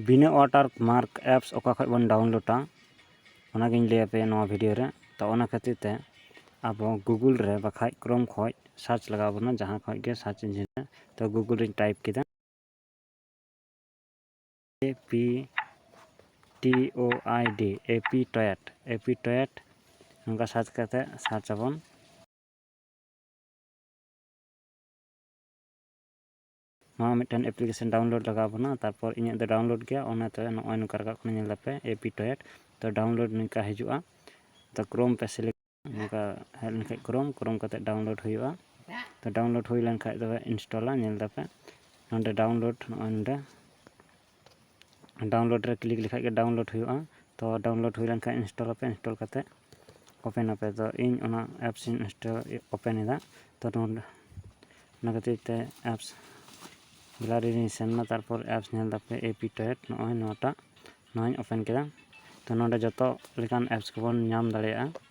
ᱵᱤᱱᱟᱹ water mark apps ᱚᱠᱟ ᱠᱷᱚᱱ ᱵᱚᱱ ᱰᱟᱣᱩᱱᱞᱳᱰᱟ ᱚᱱᱟᱜᱮᱧ ᱞᱟᱹᱭ ᱟᱯᱮᱭᱟ ᱱᱚᱣᱟ ᱵᱷᱤᱰᱤᱭᱳ ᱨᱮ ᱛᱚ ᱚᱱᱟ ᱠᱷᱟᱹᱛᱤᱨ ᱛᱮ ᱟᱵᱚ ᱜᱩᱜᱩᱞ ᱨᱮ ᱵᱟᱠᱷᱟᱡ ᱠᱨᱳᱢ ᱠᱷᱚᱱ ᱥᱟᱨᱪ ᱞᱟᱜᱟᱣ ᱵᱚᱱᱟ ᱡᱟᱦᱟᱸ ᱠᱷᱚᱱ ᱜᱮ ᱥᱟᱨᱪ ᱤᱧᱡᱤᱱ ᱨᱮ ᱛᱚ ᱜᱩᱜᱩᱞ ᱨᱮᱧ ᱴᱟᱭᱤᱯ ᱠᱮᱫᱟ A P T O I D A P ᱴᱚᱭᱮᱴ A P ᱴᱚᱭᱮᱴ ᱱᱚᱝᱠᱟ ᱥᱟᱨᱪ ᱠᱟᱛᱮ ᱥᱟᱨᱪ ᱟᱵᱚᱱ ᱱᱚᱣᱟ ᱢᱤᱫᱴᱮᱱ ᱮᱯᱞᱤᱠᱮᱥᱚᱱ ᱰᱟᱣᱩᱱᱞᱳᱰ ᱞᱟᱜᱟᱣ ᱵᱚᱱᱟ ᱛᱟᱨᱯᱚᱨ ᱤᱧᱟᱹᱜ ᱫᱚ ᱰᱟᱣᱩᱱᱞᱳᱰ ᱜᱮᱭᱟ ᱚᱱᱟᱛᱮ ᱱᱚᱜᱼᱚᱭ ᱱᱚᱝᱠᱟ ᱨᱟᱠᱟᱵ ᱠᱟᱱᱟ ᱧᱮᱞ ᱫᱟᱯᱮ ᱮᱯᱤ ᱴᱚᱭᱮᱴ ᱛᱚ ᱰᱟᱣᱩᱱᱞᱳᱰ ᱱᱚᱝᱠᱟ ᱦᱤᱡᱩᱜᱼᱟ ᱛᱚ ᱠᱨᱳᱢ ᱯᱮ ᱥᱤᱞᱮᱠᱴ ᱱᱚᱝᱠᱟ ᱦᱮᱡ ᱞᱮᱱᱠᱷᱟᱡ ᱠᱨᱳᱢ ᱠᱨᱳᱢ ᱠᱟᱛᱮ ᱰᱟᱣᱩᱱᱞᱳᱰ ᱦᱩᱭᱩᱜᱼᱟ ᱛᱚ ᱰᱟᱣᱩᱱᱞᱳᱰ ᱦᱩᱭ ᱞᱮᱱᱠᱷᱟᱡ ᱫᱚ ᱤᱱᱥᱴᱚᱞᱟ ᱧᱮᱞ ᱫᱟᱯᱮ ᱱᱚᱰᱮ ᱰᱟᱣᱩᱱᱞᱳᱰ ᱱᱚᱜᱼᱚᱭ ᱱᱚᱰᱮ ᱰᱟᱣᱩᱱᱞᱳᱰ ᱨᱮ ᱠᱞᱤᱠ ᱞᱮᱠᱷᱟᱡ ᱜᱮ ᱰᱟᱣᱩᱱᱞᱳᱰ ᱦᱩᱭᱩᱜᱼᱟ ᱛᱚ ᱰᱟᱣᱩᱱᱞᱳᱰ ᱦᱩᱭ ᱞᱮᱱᱠᱷᱟᱡ ᱤᱱᱥᱴᱚᱞ ᱟᱯᱮ ᱤᱱᱥᱴᱚᱞ ᱠᱟᱛᱮᱫ ᱳᱯᱮᱱ ᱟᱯᱮ ᱛᱚ ᱤᱧ ᱚᱱᱟ ᱮᱯᱥ ᱤᱧ ᱤᱱᱥᱴᱚᱞ ᱳᱯᱮᱱ ᱮᱫᱟ ᱛᱚ ᱱᱚᱰᱮ ᱚᱱᱟ ᱠᱷᱟᱹᱛᱤᱨ ᱛᱮ ᱮᱯᱥ ᱜᱮᱞᱟᱨᱤ ᱨᱤᱧ ᱥᱮᱱ ᱮᱱᱟ ᱛᱟᱨᱯᱚᱨ ᱮᱯᱥ ᱧᱮᱞ ᱛᱟᱯᱮ ᱮ ᱯᱤ ᱴᱮᱴ ᱱᱚᱜᱼᱚᱭ ᱱᱚᱣᱟᱴᱟᱜ ᱱᱚᱣᱟᱧ ᱳᱯᱮᱱ ᱠᱮᱫᱟ ᱛᱚ ᱱᱚᱰᱮ ᱡᱚᱛᱚ ᱞᱮᱠᱟᱱ ᱮᱯᱥ ᱠᱚᱵᱚᱱ ᱧᱟᱢ ᱫᱟᱲᱮᱭᱟᱜᱼᱟ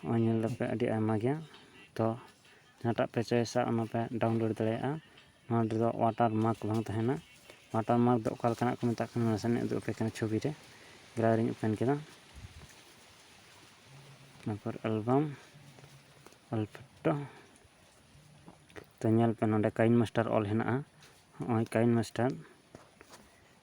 ᱱᱚᱜᱼᱚᱭ ᱧᱮᱞ ᱫᱟᱯᱮ ᱟᱹᱰᱤ ᱟᱭᱢᱟ ᱜᱮᱭᱟ ᱛᱚ ᱡᱟᱦᱟᱸᱴᱟᱜ ᱯᱮ ᱪᱚᱭᱮᱥᱟ ᱚᱱᱟ ᱯᱮ ᱰᱟᱣᱩᱱᱞᱳᱰ ᱫᱟᱲᱮᱭᱟᱜᱼᱟ ᱱᱚᱣᱟ ᱨᱮᱫᱚ ᱚᱣᱟᱴᱟᱨ ᱢᱟᱨᱠ ᱵᱟᱝ ᱛᱟᱦᱮᱱᱟ ᱚᱣᱟᱴᱟᱨ ᱢᱟᱨᱠ ᱫᱚ ᱚᱠᱟ ᱞᱮᱠᱟᱱᱟᱜ ᱠᱚ ᱢᱮᱛᱟᱜ ᱠᱟᱱᱟ ᱱᱟᱥᱮᱱᱟᱜ ᱤᱧ ᱩᱫᱩᱜ ᱟᱯᱮ ᱠᱟᱱᱟ ᱪᱷᱚᱵᱤ ᱨᱮ ᱜᱮᱞᱟᱨᱤ ᱨᱤᱧ ᱳᱯᱮᱱ ᱠᱮᱫᱟ ᱛᱟᱨᱯᱚᱨ ᱮᱞᱵᱟᱢ ᱚᱞ ᱯᱷᱳᱴᱳ ᱛᱚ ᱧᱮᱞ ᱯᱮ ᱱᱚᱰᱮ ᱠᱟᱭᱤᱱ ᱢᱟᱥᱴᱟᱨ ᱚᱞ ᱦᱮᱱᱟᱜᱼᱟ ᱱᱚᱜᱼᱚᱭ ᱠᱟᱭᱤᱱ ᱢᱟᱥᱴᱟᱨ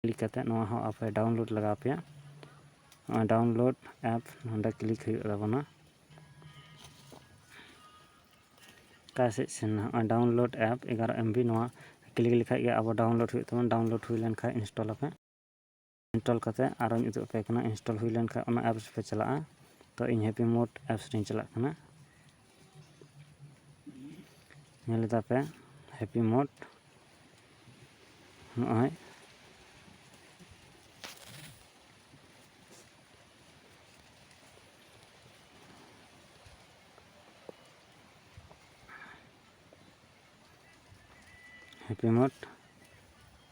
ᱠᱞᱤᱠ ᱠᱟᱛᱮᱫ ᱱᱚᱣᱟ ᱦᱚᱸ ᱟᱯᱮ ᱰᱟᱣᱩᱱᱞᱳᱰ ᱞᱟᱜᱟᱣ ᱯᱮᱭᱟ ᱱᱚᱜᱼᱚᱭ ᱰᱟᱣᱩᱱᱞᱳᱰ ᱮᱯ ᱱᱚᱸᱰᱮ ᱠᱞᱤᱠ ᱦᱩᱭᱩᱜ ᱛᱟᱵᱚᱱᱟ ᱚᱠᱟ ᱥᱮᱫ ᱥᱮᱱ ᱱᱚᱜᱼᱚᱭ ᱰᱟᱣᱩᱱᱞᱳᱰ ᱮᱯ ᱮᱜᱟᱨᱚ ᱮᱢᱵᱤ ᱱᱚᱣᱟ ᱠᱞᱤᱠ ᱞᱮᱠᱷᱟᱡ ᱜᱮ ᱟᱵᱚ ᱰᱟᱣᱩᱱᱞᱳᱰ ᱦᱩᱭᱩᱜ ᱛᱟᱵᱚᱱᱟ ᱰᱟᱣᱩᱱᱞᱳᱰ ᱦᱩᱭ ᱞᱮᱱᱠᱷᱟᱡ ᱤᱱᱥᱴᱚᱞ ᱟᱯᱮ ᱤᱱᱥᱴᱚᱞ ᱠᱟᱛᱮᱫ ᱟᱨᱚᱧ ᱩᱫᱩᱜ ᱟᱯᱮ ᱠᱟᱱᱟ ᱤᱱᱥᱴᱚᱞ ᱦᱩᱭ ᱞᱮᱱ ᱠᱷᱟᱱ ᱚᱱᱟ ᱮᱯᱥ ᱯᱮ ᱪᱟᱞᱟᱜᱼᱟ ᱛᱚ ᱤᱧ ᱦᱮᱯᱤ ᱢᱳᱰ ᱮᱯᱥ ᱨᱤᱧ ᱪᱟᱞᱟᱜ ᱠᱟᱱᱟ ᱧᱮᱞ ᱮᱫᱟ ᱯᱮ ᱦᱮᱯᱤ ᱢᱳᱰ ᱱᱚᱜᱼᱚᱭ ᱦᱮᱯᱤ ᱢᱳᱰ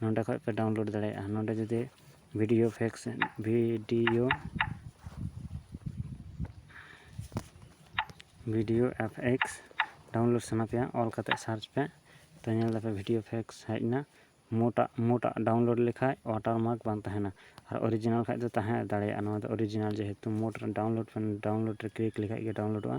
ᱱᱚᱸᱰᱮ ᱠᱷᱚᱡ ᱯᱮ ᱰᱟᱣᱩᱱᱞᱳᱰ ᱫᱟᱲᱮᱭᱟᱜᱼᱟ ᱱᱚᱸᱰᱮ ᱡᱩᱫᱤ ᱵᱷᱤᱰᱤᱭᱳ ᱯᱷᱮᱠᱥ video video F X download ᱥᱟᱱᱟ ᱯᱮᱭᱟ ᱚᱞ ᱠᱟᱛᱮ ᱥᱟᱨᱪ ᱯᱮ ᱛᱚ ᱧᱮᱞ ᱫᱟᱯᱮ ᱵᱷᱤᱰᱤᱭᱳ ᱯᱷᱮᱠᱥ ᱦᱮᱡ ᱮᱱᱟ ᱢᱳᱴᱟᱜ ᱢᱳᱴᱟᱜ ᱰᱟᱣᱩᱱᱞᱳᱰ ᱞᱮᱠᱷᱟᱡ ᱚᱣᱟᱴᱟᱨ ᱢᱟᱨᱠ ᱵᱟᱝ ᱛᱟᱦᱮᱱᱟ ᱟᱨ ᱚᱨᱤᱡᱤᱱᱟᱞ ᱠᱷᱟᱡ ᱫᱚ ᱛᱟᱦᱮᱸ ᱫᱟᱲᱮᱭᱟᱜᱼᱟ ᱱᱚᱣᱟ ᱫᱚ ᱚᱨᱤᱡᱤᱱᱟᱞ ᱡᱮᱦᱮᱛᱩ ᱢᱳᱴ ᱰᱟᱣᱩᱱᱞᱳᱰ ᱰᱟᱣᱩᱱᱞᱳᱰ ᱨᱮ ᱠᱞᱤᱠ ᱞᱮᱠᱷᱟᱡ ᱜᱮ ᱰᱟᱣᱩᱱᱞᱳᱰᱚᱜᱼᱟ